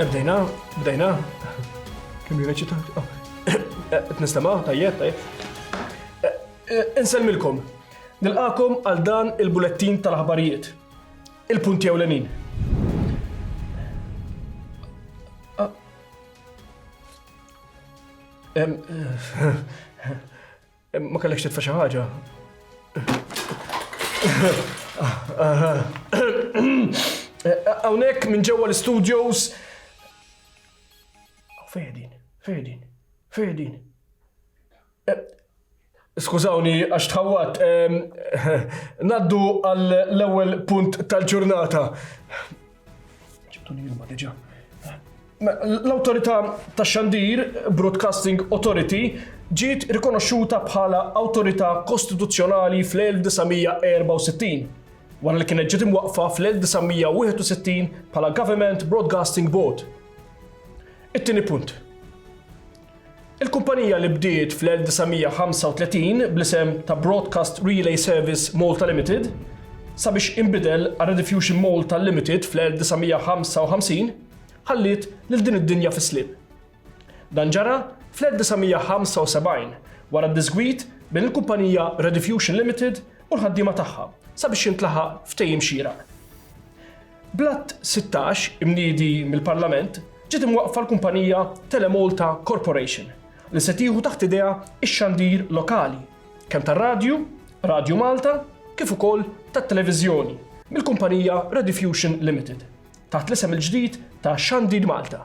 Bdejna, bdejna. Kim jirreċita? Oh. T-nistama, tajjeb, tajjeb. Insemmilkom, nilqakom għal dan il-bulettin tal-ħabarijiet. Il-punti ewlenin. Ma kellekx titfa' xi ħaġa? Hawnhekk minn ġewwa l-studios. Fejdin, fejdin, fejdin. Skużawni għax tħawwat. Naddu għall-ewwel punt tal-ġurnata. L-Awtorità tax-Xandir, Broadcasting Authority, ġiet rikonoxxuta bħala awtorità kostituzzjonali fl-1964, wara li kienet ġiet imwaqqfa fl-1961 bħala Government Broadcasting Board. It-tieni punt. Il-kumpanija li bdiet fl-1935 bl-isem ta' Broadcast Relay Service Malta Limited, sabiex inbidel għal Rediffusion Malta Limited fl-1955, ħalliet lil din id-dinja fis-sliem. Dan ġara fl-1975 wara d-diżgwid bejn il-kumpanija Rediffusion Limited u l-ħaddiema tagħha sabiex jintlaħaq ftehim xieraq. Bl-Att 16, imniedi mill-Parlament, ġiet imwaqqfa l-kumpanija Telemalta Corporation, li se tieħu taħt idejha x-xandir lokali, kemm tar-radju, Radju Malta, kif ukoll tat-televiżjoni, mill-kumpanija Rediffusion Limited, taħt l-isem il-ġdid ta' Xandir Malta.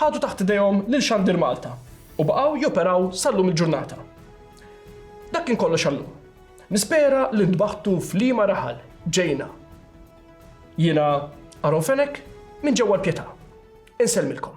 Ħadu taħt idejhom lil Xandir Malta u baqgħu joperaw sal-lum il-ġurnata. Dak kien kollox għal-lum. Nispera li ntbaħtu f'liema raħal ġejna. Jiena Aron Fenech minn ġewwa l-Pietà. Insellmilkom.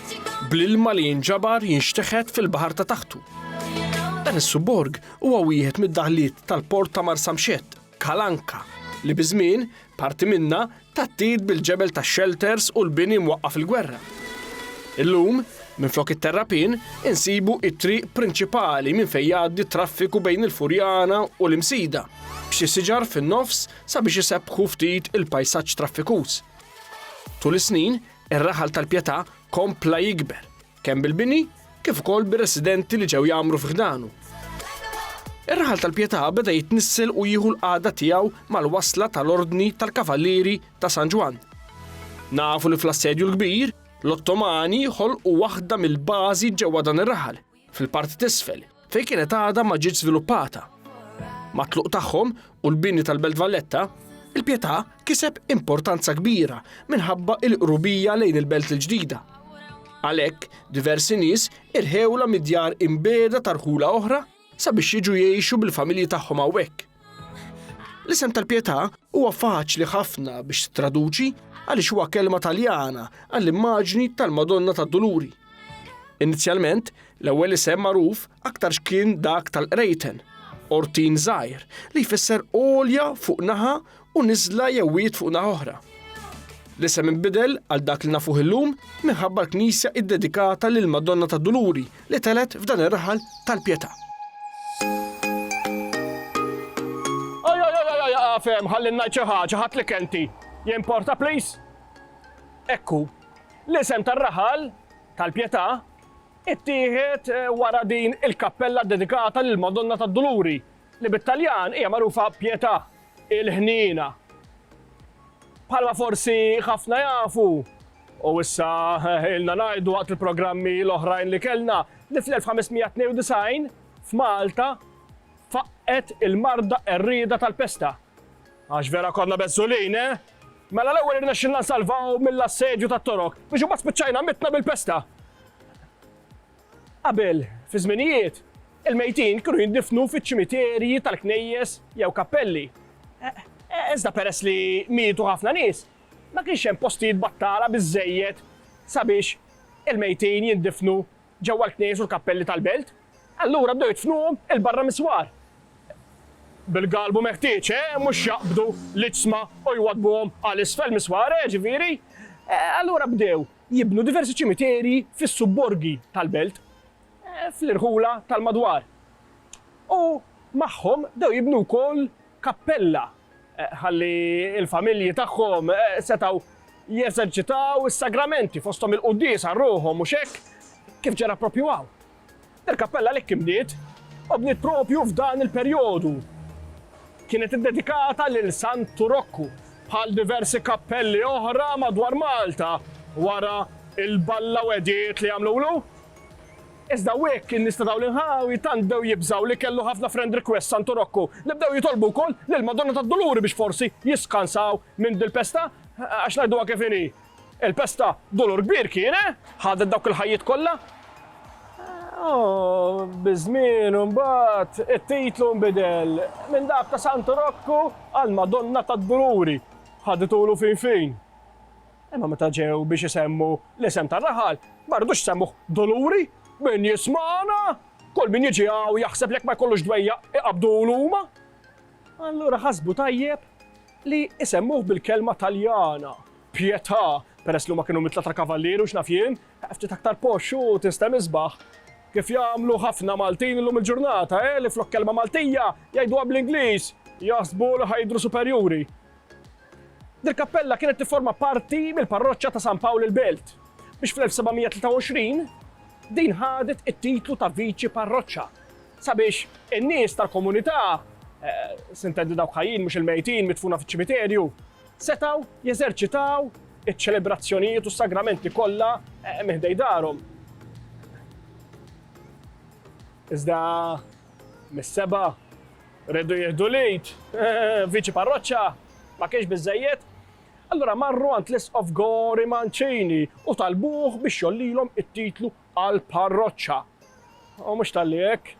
bl-ilma li jinġabar jinxteħet fil-baħar ta' taħtu. Dan is-subborg huwa wieħed mid-daħliet tal-port ta' Marsamxett, Kalanka, li biż-żmien parti minna tattit bil-ġebel ta' shelters u l-bini mwaqqaf il-gwerra. Illum, minflok it-terrapin, insibu it-triq prinċipali minn fejn jgħaddi traffiku bejn il-Furjana u l-Imsida, b'xi siġar fin-nofs sabiex isebbħu ftit il-pajsaġġ traffikuż. Tul is-snin, Ir-raħal tal-Pietà kompla jikber, kemm bil-bini kif ukoll bir-residenti li ġew jgħammru fi ħdanu. Ir-raħal tal-Pietà beda jitnissel u jieħu l-qagħda tiegħu mal-wasla tal-Ordni tal-Kavallieri ta' San Ġwann. Nafu li fl-Assedju l-Kbir, l-Ottomani ħolqu waħda mill-bażi ġewwa dan ir-raħal. fil-parti t'isfel, fejn kienet għadha ma ġietx żviluppata. Mat-tluq tagħhom u l-bini tal-Belt Valletta, il-Pietà kiseb importanza kbira minħabba il-qrubija lejn il-Belt il-ġdida. Għalhekk, diversi nies irħewla mid-djar imbeda tarħula oħra sabiex jiġu jgħixu bil-familji tagħhom hawnhekk. L-isem tal-Pietà huwa faċli ħafna biex traduċi għaliex huwa kelma Taljana għall-immaġni tal-Madonna tad-Duluri. Inizjalment, l-ewwel isem magħruf aktarx kien dak tal-Qrejten, Ortin Żgħir, li jfisser olja fuq naħa u niżla jew wiegħed fuq naħa oħra. L-isem inbidel għal dak li nafuh illum minħabba l-knisja iddedikata lill-Madonna tad-Duluri li telgħet f'dan ir-raħal tal-pjetà. Aqaf hemm ħalli ngħid xi ħaġa, ħadd li kenti. Jimporta please? Ekku, l-isem tar-raħal tal-Pjetà ittieħed eh, wara din il-kappella dedikata lil Madonna tad-Duluri li bit-Taljan hija magħrufa pietà, il-ħniena. Bħalma forsi ħafna jafu, u issa ilna ngħidu waqt il-programmi l-oħrajn li kellna, li fl-1592 f'Malta faqqet il-marda qerrieda tal-pesta. Għax vera konna bezzulin, eh? Mela l-ewwel irnexxilna nsalvaw mill-assedju tat-Torok biex imbagħad spiċċajna mitna bil-pesta. Qabel, fi żminijiet, il-mejtin kienu jindifnu fiċ-ċimiterji tal-knejjes jew kappelli. Iżda peress li mietu ħafna nies, ma kienx hemm postijiet battala biżżejjed sabiex il-mejtin jindifnu ġewwa l-knejjes u l-kappelli tal-belt. Allura bdew jidfnuhom 'il barra mis-swar. Bil-galbu meħtieġ, mhux jaqbdu l-iġsma u jwaddbuhom għal isfel mis-swar, ġifieri. Allura bdew jibnu diversi ċimiterji fis-subborgi tal-belt fl-irħula tal-madwar u magħhom bdew jibnu wkoll kappella ħalli l-familji tagħhom setgħu jeżerċitaw is-sagramenti fosthom il-quddies għal ruħhom mhux hekk kif ġara proprju hawn. Il-kappella li kkimniet u bniet propju f'dan il-perjodu kienet iddedikata lil Santu Rokku, bħal diversi kappelli oħra madwar Malta wara l-ballawediet li għamlulu. Iżda wiek in-nies ta' dawn l-inħawi tant bdew jibżgħu li kellu ħafna friend request Santu Rokku li bdew jitolbu wkoll lill-Madonna tad-Duluri biex forsi jiskansaw minn dil-pesta, għax ngħiduha kif inhi, Il-pesta dolur kbir kien, eh? Ħadet dawk il-ħajjiet kollha? Oh, biż-żmien imbagħad it-titlu nbidel minn dak ta' Santu Rokku għal Madonna tad-Duluri. Ħaditulu fin fin. Imma meta ġew biex isemmu l-isem tar-raħal, ma rridux semmuh Duluri, min jismana, kull min jiġi hawn jaħseb jekk ma jkollux dwejja iqabdulu huma. Allura ħasbu tajjeb li isemmuh bil-kelma Taljana. Pietà, peress li huma kienu mittleta kavallieri u x'naf jien, ftit aktar posh u tinstem isbaħ. Kif jagħmlu ħafna Maltin illum il-ġurnata, eh, li flok kelma Maltija jgħiduha bl-Ingliż, jaħsbu li ħa jidhru superjuri. Dil-kappella kienet tifforma parti mill-parroċċa ta' San Pawl il-Belt, biex fl-1723 din ħadet it-titlu ta' viċi parroċċa, sabiex in-nies tal-komunità, eh, sintendi dawk ħajjin mhux il-mejtin mitfuna fiċ-ċimiterju, setgħu jeżerċitaw iċ-ċelebrazzjonijiet u s-sagramenti kollha minn ħdejn darhom. Iżda mis-seba' rridu jieħdu l-id, viċi parroċċa, ma kienx biżejjed. Allura marru għand l-isqof Gori Mancini u talbuh biex jollilhom it-titlu għal parroċċa. U mhux tal-li hekk,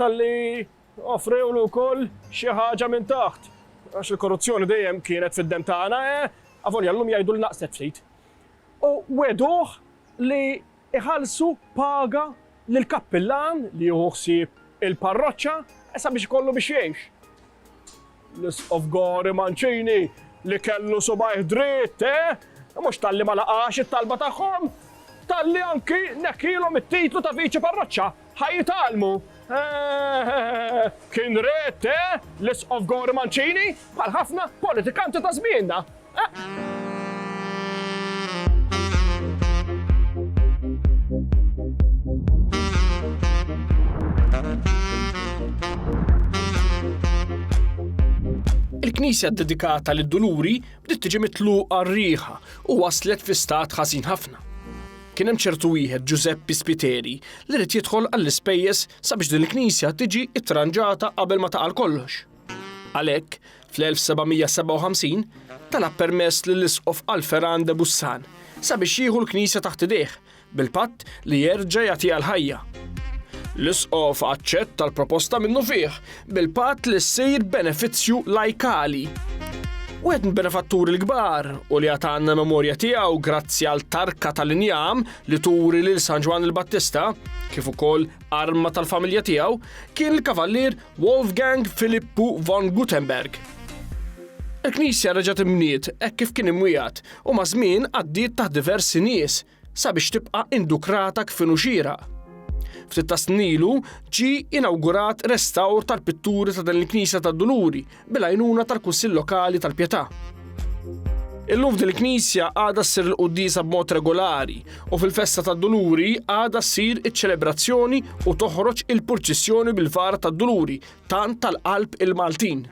tal-li Offrewlu wkoll xi ħaġa minn taħt, għax il-korruzzjoni dejjem kienet fid-demm tagħna, avolja llum jgħidu li naqset ftit. U wegħduh li jħallsu paga lill-kappillan li jieħu ħsieb il-parroċċa sabiex ikollu biex jgħix. L-Isqof Gori Mancini li kellu subajh dritt, eh? Mhux talli ma laqax it-talba tagħhom, talli anki nekkilhom it-titlu ta' viċi parroċċa ħa jitalmu. Eh, kien red, eh? L-Isqof Gori Mancini bħal ħafna politikanti ta' żmienna. Il-knisja ddedikata lid duluri bdiet tiġi mitluqa r-riħa u waslet fi stat ħażin ħafna. Kien hemm ċertu wieħed Giuseppe Spiteri li rid jidħol għall-ispejjeż sabiex din il-knisja tiġi ittranġata qabel ma taqal kollox. Għalhekk, fl-1757, talab permess lill-Isqof Alpheran de Bussan sabiex jieħu l-knisja taħt idejh, bil-patt li jerġa' jagħtiha l-ħajja. L-Isqof aċċetta l-proposta minnufih, bil-patt li ssir benefizzju lajkali. Wieħed mill-benefatturi l-kbar u li għad għandna memorja tiegħu grazzi għal tarka tal-injam li turi lil San Ġwann il-Battista, kif ukoll arma tal-familja tiegħu, kien il-Kavallier Wolfgang Filippu von Gutenberg. Il-Knisja reġgħet imbniet hekk kif kien imwiegħed u maż-żmien għaddiet taħt diversi nies sabiex tibqa' indukrata kif inhu xieraq. Ftit ta' snin ilu ġie inawgurat restawr tal-pitturi ta' din il-Knisja tad-Duluri bil-għajnuna tal-Kunsill Lokali tal-Pietà. Illum f'din il-knisja għadha ssir il-quddiesa b'mod regolari u fil-festa tad-Duluri għadha ssir iċ-ċelebrazzjoni u toħroġ il-purċissjoni bil-vara tad-Duluri tant tal-qalb il-Maltin.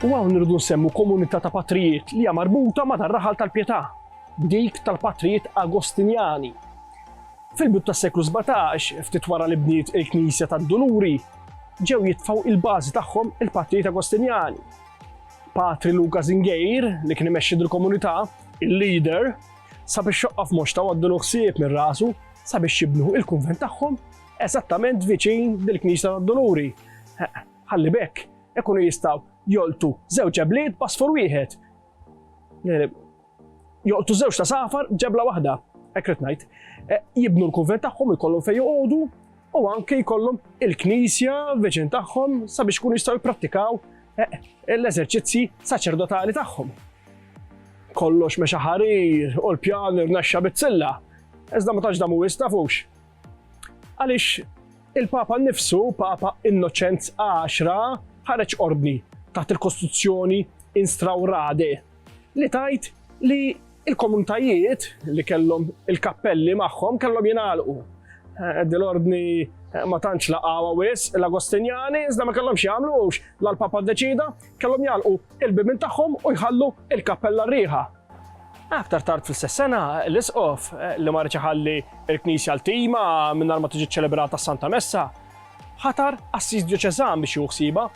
U għaw nirdu nsemmu komunità ta' patrijiet li hija marbuta ma' dar-raħal tal-pietà, b'dik tal-patrijiet Agostinjani. Fil-bib tas-seklu 17, ftit wara li bniet il-Knisja tad-Duluri, ġew jitfaw il-bażi tagħhom il-patrijiet Agostinjani. Patri Luka Zingejr, li kien imexxi dil-komunità, il-leader, sabiex xoqqaf moxta waddulu ħsieb minn rasu sabiex jibnu il-kunvent tagħhom eżattament viċin dil-Knisja tad-Doluri. Ħalli bekk ikunu jistgħu joltu żewġ ġebliet basfur wieħed. Joltu żewġ ta' safar ġebla waħda, ekret ngħid. E, jibnu l-kunvent tagħhom ikollhom fejn joqogħdu u anke jkollhom il-knisja viċin tagħhom sabiex ikunu jistgħu jipprattikaw eh, l-eżerċizzi saċerdotali tagħhom. Kollox mexa ħarir u l-pjan irnexxa bizzilla, iżda ma tantx damu jistafux. Għaliex il-Papa nnifsu, Papa Innoċenz 10, ħareġ ordni taħt il-Kostituzzjoni Instraurade li tgħid li l-komunitajiet li kellhom il-kappelli magħhom kellhom jingħalqu. Eh, dil-ordni eh, ma tantx laqgħu wis l-Agostinjani iżda ma kellhomx jagħmlux la l-Papa ddeċida kellhom jagħlqu il-bibin tagħhom u jħallu il-kappella rieħa. Aktar tard fl-istess sena, l-isqof eh, li marriċ ħalli il-Knisja l-tima minn ma tiġi ċelebrata Santa Messa, ħatar assis dioċezan biex juħsiba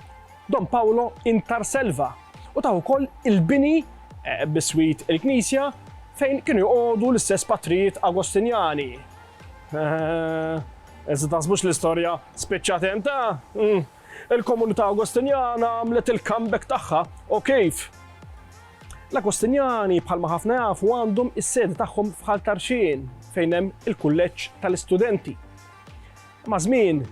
Don Paolo intarselva u tah ukoll il-bini biswit il-knisja fejn kienu joqogħdu l-istess patrijiet Agostinjani. Iżda taħsbux l-istorja spiċċat hemm ta? Mm. Il-komunità Agostinjana għamlet il-comeback tagħha u kif? L-Agostinjani bħalma ħafna jafu għandhom is-sedi tagħhom f'Ħal Tarxien fejn hemm il-kulleġġ tal-istudenti. Maż-żmien,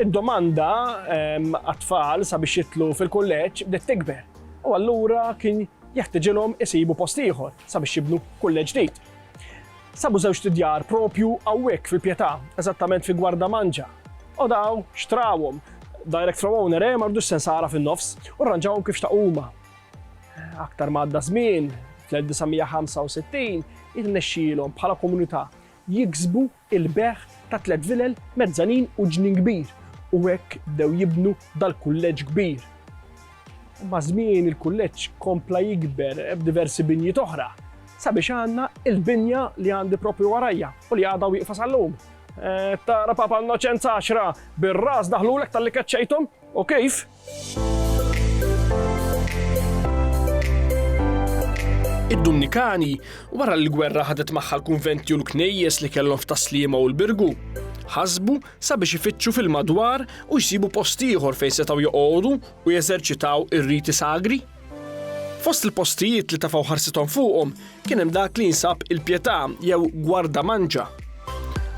id-domanda għat-tfal sabiex jidħlu fil-kulleġġ bdiet tikber, u allura kien jeħtiġilhom isibu post ieħor sabiex jibnu kulleġġ ġdid. Sabu żewġt idjar proprju hawnhekk fil-Pietà, eżattament fi Gwarda Manġa. U daw xtrawhom direct from owner, eh, mardu sensara fin-nofs, u rranġawhom kif xtaqu huma. Aktar ma għadda żmien, fl-1965, jirnexxilhom bħala komunità jiksbu l-bejgħ ta' tliet vilel, mezzanin u ġnien kbir u hekk bdew jibnu dal-kulleġġ kbir. Maż-żmien il-kulleġġ kompla jikber b'diversi binjiet oħra sabiex għandna l-binja li għandi proprju warajja u li għadha wieqfa sal-lum. Tara Papa Innoċenz Għaxra bir-ras daħlulek talli keċċejthom? U kif? Id-Dumnikani, wara li l-gwerra ħadet magħha l-kunventi u l-knejjes li kellhom f'Taslima u l-Birgu, ħasbu sabiex ifittxu fil-madwar u jsibu post ieħor fejn setgħu joqogħdu u jeżerċitaw ir-riti sagri. Fost il-postijiet li tafaw ħarsithom fuqhom kien hemm dak li jinsab il-Pietà jew Gwarda Manġa.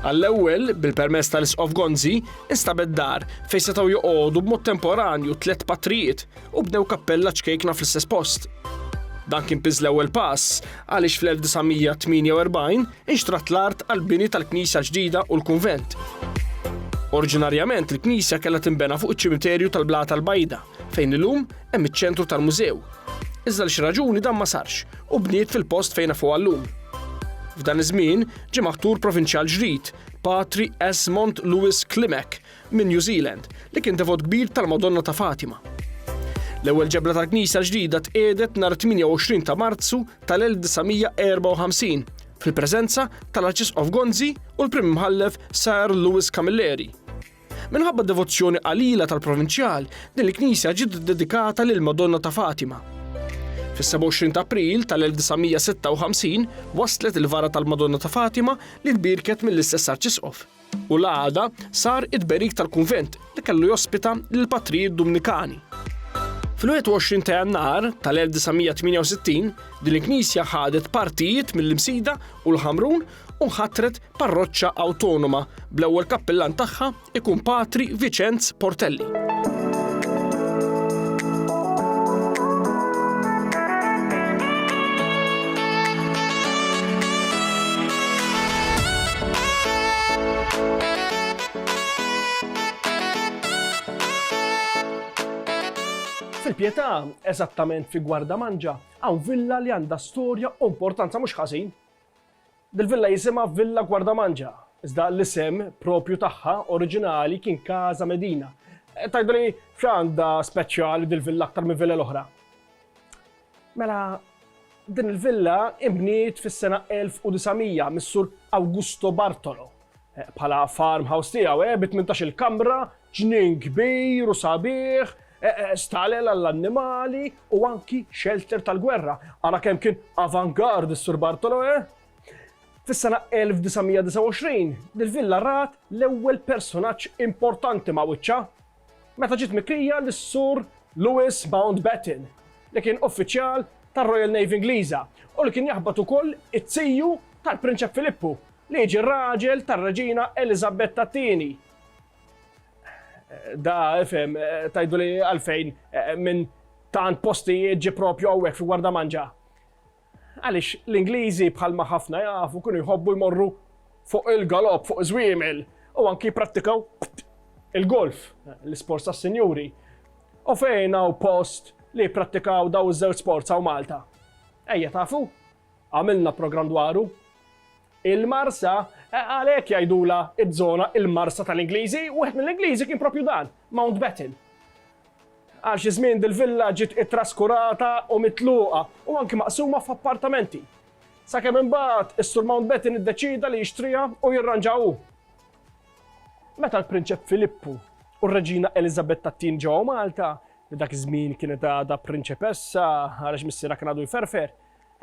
Għall-ewwel, bil-permess tal-Isqof Gonzi, instabet dar fejn setgħu joqogħdu b'mod temporanju tliet patrijiet u bnew kappella ċkejkna fl-istess post. Dan kien piż l-ewwel pass għaliex fl-1948 inxtrat l-art għall-bini tal-knisja ġdida u l-kunvent. Oriġinarjament il-knisja kellha tinbena fuq iċ-ċimiterju tal-Blata l-Bajda. fejn illum hemm iċ-ċentru tal-mużew. Iżda għal xi raġuni dan ma sarx u bniet fil-post fejn nafuha llum. F'dan iż-żmien ġie maħtur provinċjal ġrid, Patri Esmond Lewis Klimek minn New Zealand, li kien devot kbir tal-Madonna ta' Fatima. L-ewwel ġebla tal-knisja l-ġdida tqiegħdet nhar 28 ta' Marzu tal-1954 fil-preżenza tal-Arċisqof Gonzi u l-Prim Imħallef Sir Lewis Camilleri. Minħabba d-devozzjoni qalila tal-provinċjal, din il-knisja ġiet iddedikata lill-Madonna ta' Fatima. Fis-27 ta' April tal-1956 wasslet il-vara tal-Madonna ta' Fatima li tbierket mill-istess Arċisqof, u l-għada sar it-tberik tal-kunvent li kellu jospita lill-Patrijiet Dumnikani. Fil-21 ta' Jannar tal-1968, din il-knisja ħadet partijiet mill-Imsida u l-Ħamrun u nħatret parroċċa awtonoma bl-ewwel kappillan tagħha ikun Patri Viċenz Portelli. Fil-Pietà, eżattament fi Gwarda Manġa, hawn villa li għandha storja u importanza mhux ħażin. Dil-villa jisimha Villa Guardamangia, iżda l-isem proprju tagħha oriġinali kien Casa Medina. Tgħidlu li x'għandha speċjali dil-villa aktar minn villa l-oħra? Mela, din il-villa inbniet fis-sena 1900 mis-Sur Augusto Bartolo. Eh, bħala farmhouse tiegħu, eh, bi 18-il kamra, ġnien kbir u sabiħ, eh, eh, stalel għall-annimali u anki shelter tal-gwerra. Ara kemm kien avant-garde is-Sur Bartolo, eh? Fis-sena 1929, dil-villa rat l-ewwel personaġġ importanti ma' wiċċa meta ġiet mikrija l-Sur Lewis Mountbatten, li kien uffiċjal tar-Royal Navy Ingliża u li kien jaħbad ukoll it-tiju tal-Prinċep Filippu Li jiġi r-raġel tar-Reġina Eliżabetta t-Tieni. Da, ifhem, tajdu li għalfejn minn tant postijiet ġi propju hawnhekk fi Warda Manġa. Għaliex l-Ingliżi bħalma ħafna jafu kienu jħobbu jmorru fuq il-galopp, fuq iż-żwiemel, u anki jipprattikaw il-golf, l-isports tas-sinjuri. U fejn hawn post li jipprattikaw daw iż-żewġ sports hawn Malta? Ejja tafu? Għamilna programm dwaru. Il-Marsa, għalhekk jgħidulha ż-żona il-Marsa tal-Ingliżi, wieħed mill-Ingliżi kien propju dan, Mountbatten. Għal xi żmien dil-villa ġiet ittraskurata u mitluqa u anki maqsuma f'appartamenti. Sakemm imbagħad is-Sur Mountbatten iddeċida li jixtriha u jirranġa hu. Meta l-Prinċep Filippu u r-Reġina Elizabetta Tin ġew Malta, li dak iż-żmien kienet għadha prinċepessa għaliex missierha kien għadu jferfer,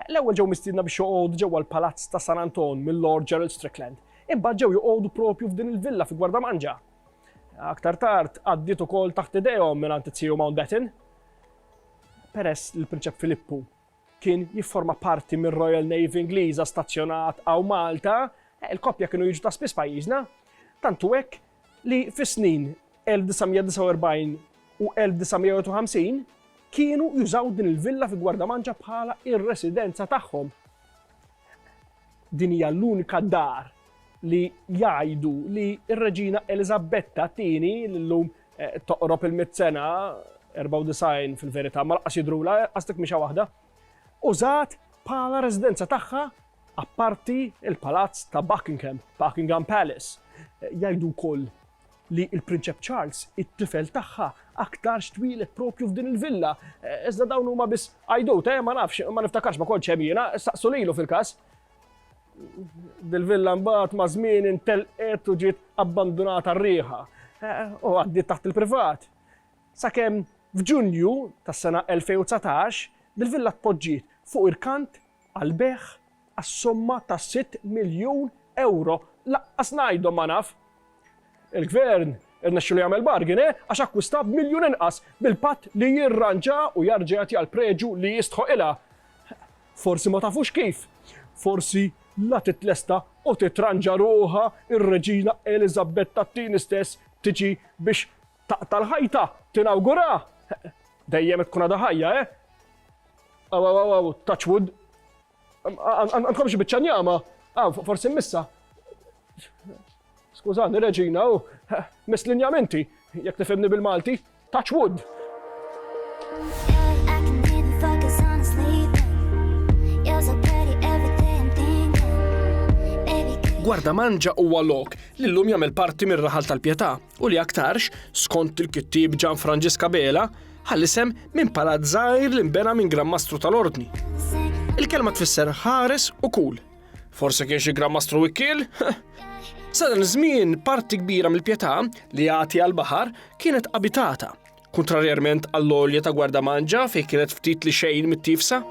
L-ewwel ġew mistiedna biex joqogħdu ġewwa l-Palazz ta' San Anton mil-Lord Gerald Strickland. Imbagħad ġew joqogħdu propju f'din il-villa fi Gwardamanġa. Aktar tard għaddiet ukoll taħt idejhom mingħand it-Sir Mountbatten. Peress li l-Prinċep Filippu kien jifforma parti mir-Royal Navy Ingliża stazzjonat hawn Malta, il-koppja kienu jiġu ta' spiss pajjiżna. Tantu hekk li fis-snin 1949 u 1951 kienu jużaw din il-villa fi Gwardamanġa bħala ir-residenza tagħhom. Din hija l-unika dar li jgħidu li r-Reġina Elizabetta tieni l-lum eh, toqrob il-mit sena 94 fil-verità ma laqas jidrula għastek mixa waħda użat bħala residenza tagħha Apparti l-Palazz ta' Buckingham, Buckingham Palace, jgħidu wkoll li l-Prinċep Charles it-tifel tagħha aktarx twieled propju f'din il-villa. Iżda dawn huma biss għajdut, eh, ma nafx, ma niftakarx ma kontx hemm jiena, saqsu lilu fil-każ. Dil-villa mbagħad ma' żmien intelqet u ġiet abbandunata r-riħa eh, u għaddiet taħt il-privat. Sakemm f'Ġunju tas-sena 2019 dil-villa tpoġġiet fuq irkant għall-bejgħ għas-somma ta' sitt miljun ewro, lanqas ngħidhom ma naf! Il-Gvern irnexxielu jagħmel bargain, eh, għax akkwistah b'miljun inqas, bil-patt li jirranġa u jarġa' jagħtiha l-preġu li jistħoqilha. Forsi ma tafux kif? Forsi la titlesta u titranġa ruħha r-Reġina Eliżabetta t-Tieni stess tiġi biex Taqta' l-ħajta, tinawgura! Dejjem qed tkun għadha ħajja, eh? Aw, aw, aw, aw, touch wood. Għandkom xi biċċa njama? Aw, forsi missa. Skużani, Reġina, u miss l-injamenti, jekk tifhimni bil-Malti, touch wood. Gwarda Manġa huwa lok li llum jagħmel parti mir-raħal tal-Pjetà. u li aktarx, skont il-kittieb Ġan Franġisk Abela, ħa l-isem minn palazz żgħir li nbena minn Gran Mastru tal-Ordni. Il-kelma tfisser ħares u kul. Forse kien xi Gran Mastru Wikkiel? Sadan żmien parti kbira mill-pjetà li jagħti għall-baħar kienet abitata, kontrarjament għall-olja ta' gwarda manġa fejn kienet ftit li xejn mit-tifsa.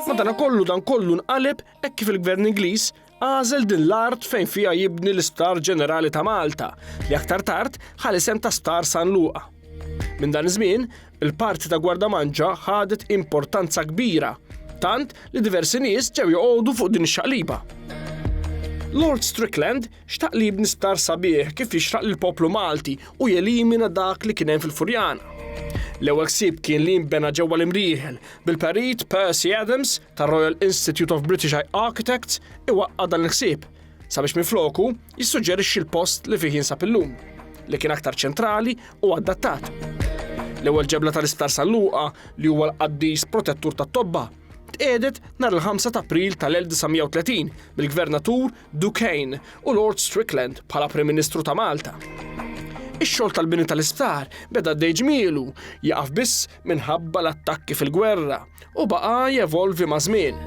Madana kollu dan kollu nqaleb hekk kif il-Gvern Ingliż Għażel din l-art fejn fiha jibni l-Isptar Ġenerali ta' Malta, li aktar tard ħa l-isem ta' Sptar San Luqa. Minn dan iż-żmien, il-parti ta' Gwardamanġa ħadet importanza kbira, tant li diversi nies ġew joqogħdu fuq din ix-xaqliba. Lord Strickland xtaq li jibni sptar sabiħ kif jixraq lill-poplu Malti u jelimina dak li kien hemm fil-Furjana. L-ewwel ħsieb kien li jinbena ġewwa l-imrieħel bil-Perit Percy Adams tar-Royal Institute of British Architects iwaqqa' dan il-ħsieb, sabiex minfloku jissuġġerixxi l-post li fih jinsab illum, li kien aktar ċentrali u adattat. L-ewwel ġebla tal-Isptar San Luqa, li huwa l-qaddis protettur tat-tobba, tqiegħdet nhar il-ħamsa ta' April tal-1930 mill-Gvernatur Duquesne u Lord Strickland bħala Prim Ministru ta' Malta. Ix-xogħol tal-bini tal-isptar beda għaddej ġmielu, jaqaf biss minħabba l-attakki fil-gwerra u baqa' jevolvi maż-żmien.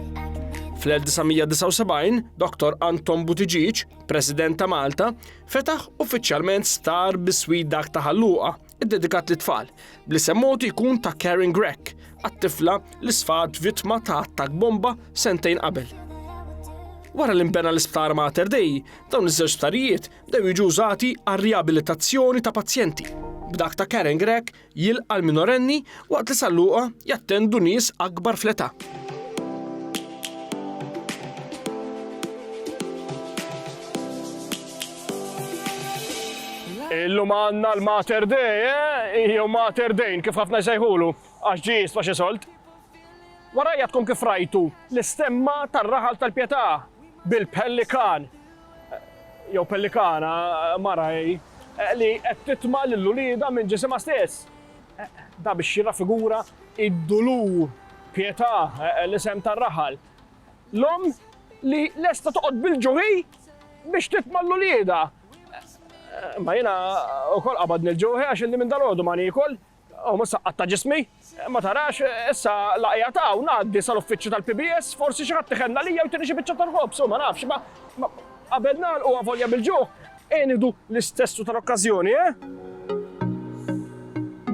Fl-1979, Dr. Anton Buttigieg, President ta' Malta, fetaħ uffiċjalment star biswit dak ta' ħalluqa, iddedikat lit tfal bli semmotu jkun ta' Karen Grech, għat-tifla li sfat vittma ta' attak bomba sentejn qabel. Wara li nbena l-isptar Mater Dei, dawn iż-żewġ sptarijiet dew jiġu użati għar-riabilitazzjoni ta' pazjenti. B'dak ta' Karen Grech Jilqa' l-minorenni waqt li sal-logħa jattendu nies akbar fl-età. Illum għandna l-Mater Dei, eh? jew Mater Dejn, kif ħafna jsejħulu, għax ġi jisfa xi solt. Warajja tkun kif rajtu l-istemma tar-raħal tal-Pietà bil-pellikan jew pellikana, mara hi, li qed titma' lil uliedha minn ġisimha stess. Dan biex jirrafigura d-dulur, pjetà, l-isem tar-raħal. L-omm li lesta toqgħod bil-ġuħ hi biex titma' lil uliedha. Imma jiena wkoll qabadni l-ġuħ għax ilni minn dalgħodu ma niekol, Hawn mhux saqqat ta' ġismi. Ma tarax, issa la qiegħed hawn, ngħaddi sal-uffiċċju tal-PBS, forsi xi ħadd iħenn għalija u jtini xi biċċa tal-ħobż, u ma nafx, ma, ma, qabel nagħlqu avolja bil-ġuħ, ejja nieħdu l-istess u tal-okkażjoni, eh?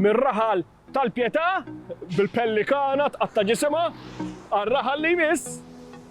Mir-raħal tal-Pietà, bil-pellikana tqatta' ġisimha, għar-raħal li jmiss.